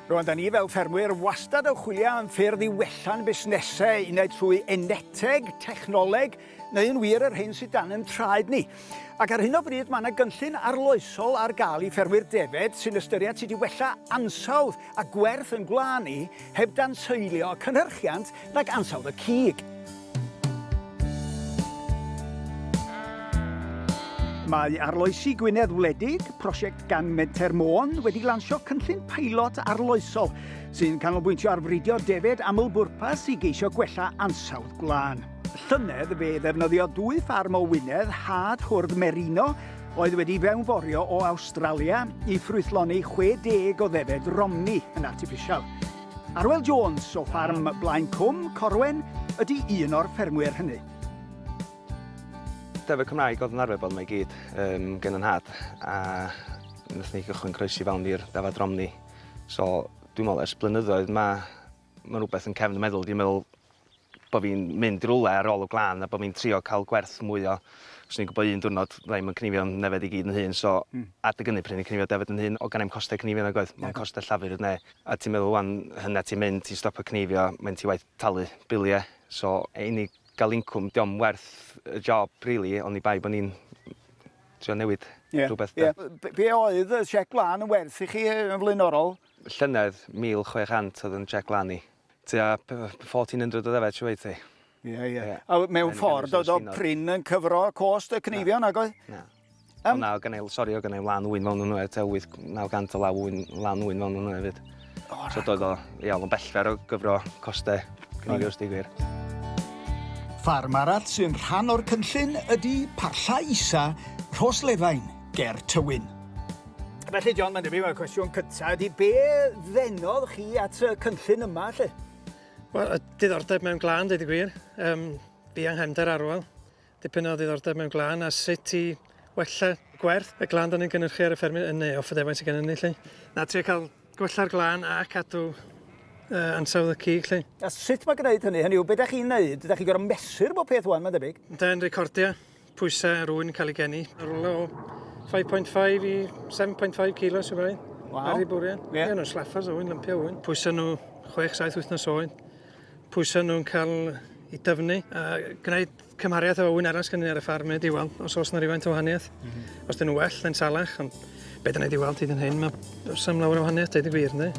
Rwan, da ni fel ffermwyr wastad yn chwilio am ffyrdd i wella'n busnesau, un ai trwy eneteg, technoleg, neu yn wir yr hyn sydd dan yn traed ni. Ac ar hyn o bryd mae yna gynllun arloesol ar gael i ffermwyr defed sy'n ystyried sut i wella ansawdd a gwerth yn gwlân ni heb dan seilio cynhyrchiant nag ansawdd y cig. Mae Arloesi Gwynedd Wledig, prosiect gan Menter Môn, wedi lansio cynllun pilot arloesol sy'n canolbwyntio ar fridio defed aml-bwrpas i geisio gwella ansawdd gwlân. Llynedd fe ddefnyddio dwy ffarm o Wynedd had hwrdd merino oedd wedi fewnforio o Awstralia i ffrwythloni 60 o ddefed romni yn artiffisial. Arwel Jones o ffarm Blaen Cwm Corwen ydi un o'r ffermwyr hynny. Defaid Cymraeg oedd yn arfer bod yma i gyd um, gen yn nhad a wnaethon ni gychwyn croesi fewn i'r dafad Romney. So dwi'n meddwl ers blynyddoedd mae ma rhywbeth yn cefn y meddwl, dwi'n meddwl bo' fi'n mynd rywle ar ôl y gwlân a bo' fi'n trio ca'l gwerth mwy o... Os o'n i'n gwbo un diwrnod fydda i'm yn cnifio'n nefedd i gyd yn hun so Hmm. Adeg ynny pryd o'n i'n cnifio defed yn hun o' genai'm coste cnifio nag oedd? Mond coste llafur ne' a ti'n meddwl ŵan hynna ti'n mynd ti'n stopio cnifio mae'n ti waeth talu bilie so yy i ni ga'l incwm dio'm werth y job rili oni bai bo' ni'n trio newid Ie. Rhywbeth 'de? Ie. B- be' oedd y siec gwlân yn werth i chi yy yn flaenorol? Llynedd 1,600 oedd 'yn siec gwlân i. Tua 1400 o ddefed, siw oedd ti? Ie, ie. A mewn ffordd, oedd o prin yn cyfro cost y cneifion, ac oedd? Na. Um, o na, o gynnau, sori, o gynnau lan wy'n fawn nhw hefyd, 8, 900 o law wy'n lan wy'n fawn nhw hefyd. Oh, so doedd o, ia, o'n bellfer o gyfro costau cneifios di gwir. Ffarm arall sy'n rhan o'r cynllun ydy Parlla Isa, Rhos Lefain. ger Tywyn. Felly John, mae'n debyg mae'r cwestiwn cyntaf ydy be ddenodd chi at y cynllun yma lle? Wel, y diddordeb mewn glân, dweud y gwir. Um, fi yng nghefnder arwel. Dipyn o ddiddordeb mewn glân a sut i wella gwerth y glân dan ni'n gynhyrchu ar y ffermydd yn neu off y defaint sydd gennym ni lle. Na, trio cael gwella'r glân a cadw uh, ansawdd y cig lle. A sut mae gwneud hynny? Hynny yw, beth ydych chi'n neud? Ydych chi'n gorau mesur bod peth wan, mae'n debyg? Da'n recordio pwysau a rwy'n cael ei geni. Yn rhywle o 5.5 i 7.5 kilos y bai. Wow. Ar ei bwriad. Ie. Yeah. Nhw'n slaffers o wyn, lympio wyn. Pwysau nhw 6-7 wythnos oed. Pwysau nhw'n cael i dyfnu a gwneud cymhariaeth o wyn arall gyda ar y ffarm neu diwal, os oes yna rhywfaint o wahaniaeth. Mm -hmm. Os dyn nhw well, yn salach, ond beth yna diwal ti dyn hyn, mae sam lawer o wahaniaeth, dweud y gwir, ynddi?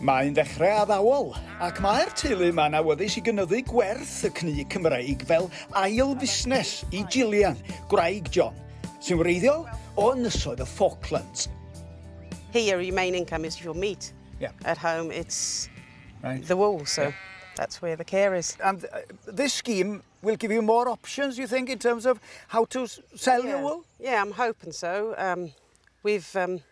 Mae'n ddechrau addawol, ac mae'r teulu yma'n awyddus i gynyddu gwerth y cnu Cymreig fel ail fusnes i Gillian, gwraig John, sy'n wreiddiol o Ynysoedd y Falklands. Here your main income is your meat. Yeah. At home it's right. the wool, so yeah. that's where the care is. And uh, this scheme will give you more options, you think, in terms of how to sell yeah. your wool? Yeah, I'm hoping so. Um, we've um,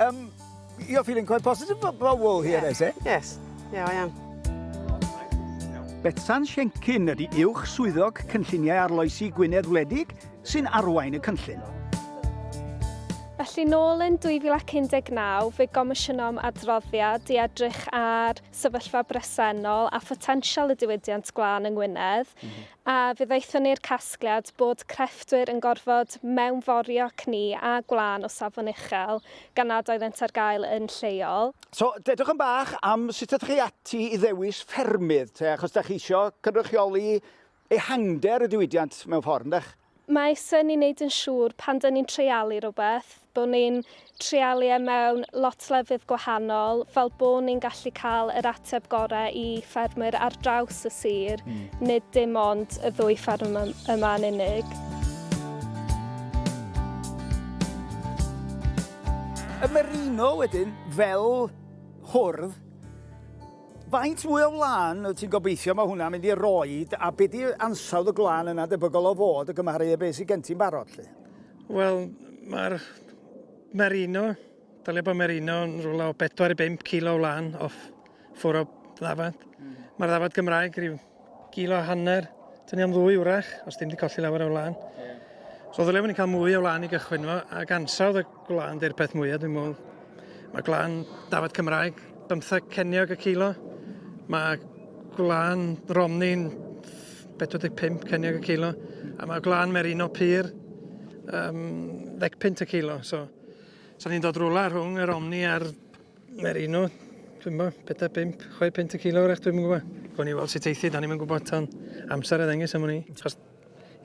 Umm, you're feeling quite positive about wool here, yeah. is it? Yes, yeah, I am. Betsan Siencyn ydy uwch swyddog cynlluniau arloesi Gwynedd Wledig sy'n arwain y cynllun. Felly, nôl yn 2019, fe gomisiynnom adroddiad i edrych ar sefyllfa bresennol a photensial y diwydiant glân yng Ngwynedd, mm -hmm. A ddaethon ni'r casgliad bod crefftwyr yn gorfod mewnforio cni a gwlân o safon uchel gan nad oeddent ar gael yn lleol. So, dedwch yn bach am sut ydych chi ati i ddewis ffermydd te, achos da chi isio cynrychioli ehangder y diwydiant mewn ffordd, yndych? Mae syn ni'n neud yn siŵr pan dyn ni'n treialu rhywbeth, bod ni'n treialu e mewn lot lefydd gwahanol fel bod ni'n gallu cael yr ateb gore i ffermwyr ar draws y sir, mm. nid dim ond y ddwy fferm yma yn unig. Y merino wedyn, fel hwrdd, Faint mwy o wlân wyt ti'n gobeithio mae hwnna'n mynd i roed a be di ansawdd y gwlân yna debygol o fod y gymharu â beth sydd gen ti'n barod 'lly? Wel, mae'r merino, dylai bod merino yn rhywle o 4 i 5 kilo o wlân off ffwr o ddafad. Mm. Mae'r ddafad Gymraeg rhyw Gilo a hanner, dyn ni am ddwy wrach, os dim di colli lawer o wlân. Yeah. So ddylai ni cael mwy o wlân i gychwyn fo, ac ansawdd y gwlân dy'r peth mwyaf dwi'n mwyn. Mae gwlân dafod Cymraeg, bymtheg ceniog y cilo. Mae gwlân Romni'n 45 ceniog y cilo. A mae gwlân Merino Pyr um, ddecpunt y cilo. So, so ni'n dod rwla rhwng yr Omni a'r Neu'r un o, dwi'n bo, pedair, bimp, chwe pint y kilo wrach, dwi'n gwybod. Gwn ni weld sut eithi, da ni'n mynd gwybod tan amser a ddengys am hwn i. Chos,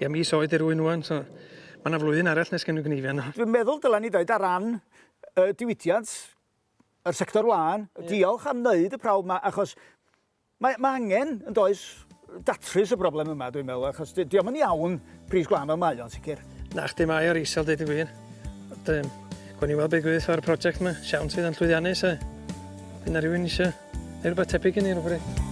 ia, mis oed i'r wy'n wan, so mae yna flwyddyn arall nes gen nhw gneifio yno. Dwi'n meddwl dylen ni ddweud ar ran y diwydiant, yr sector wlân, diolch am wneud y prawf yma, achos Mae, mae angen, yn does, datrys y broblem yma, dwi'n meddwl, achos di, diolch yn iawn pris gwlân fel mae o'n sicr. Na, chdi mae o'r isel, dweud y gwir. Ond, um, gwn i weld beth gwyth o'r prosiect yma, siawns fydd yn llwyddiannus, e. Dyna rhywun eisiau, neu rhywbeth tebyg i ni rhywbryd.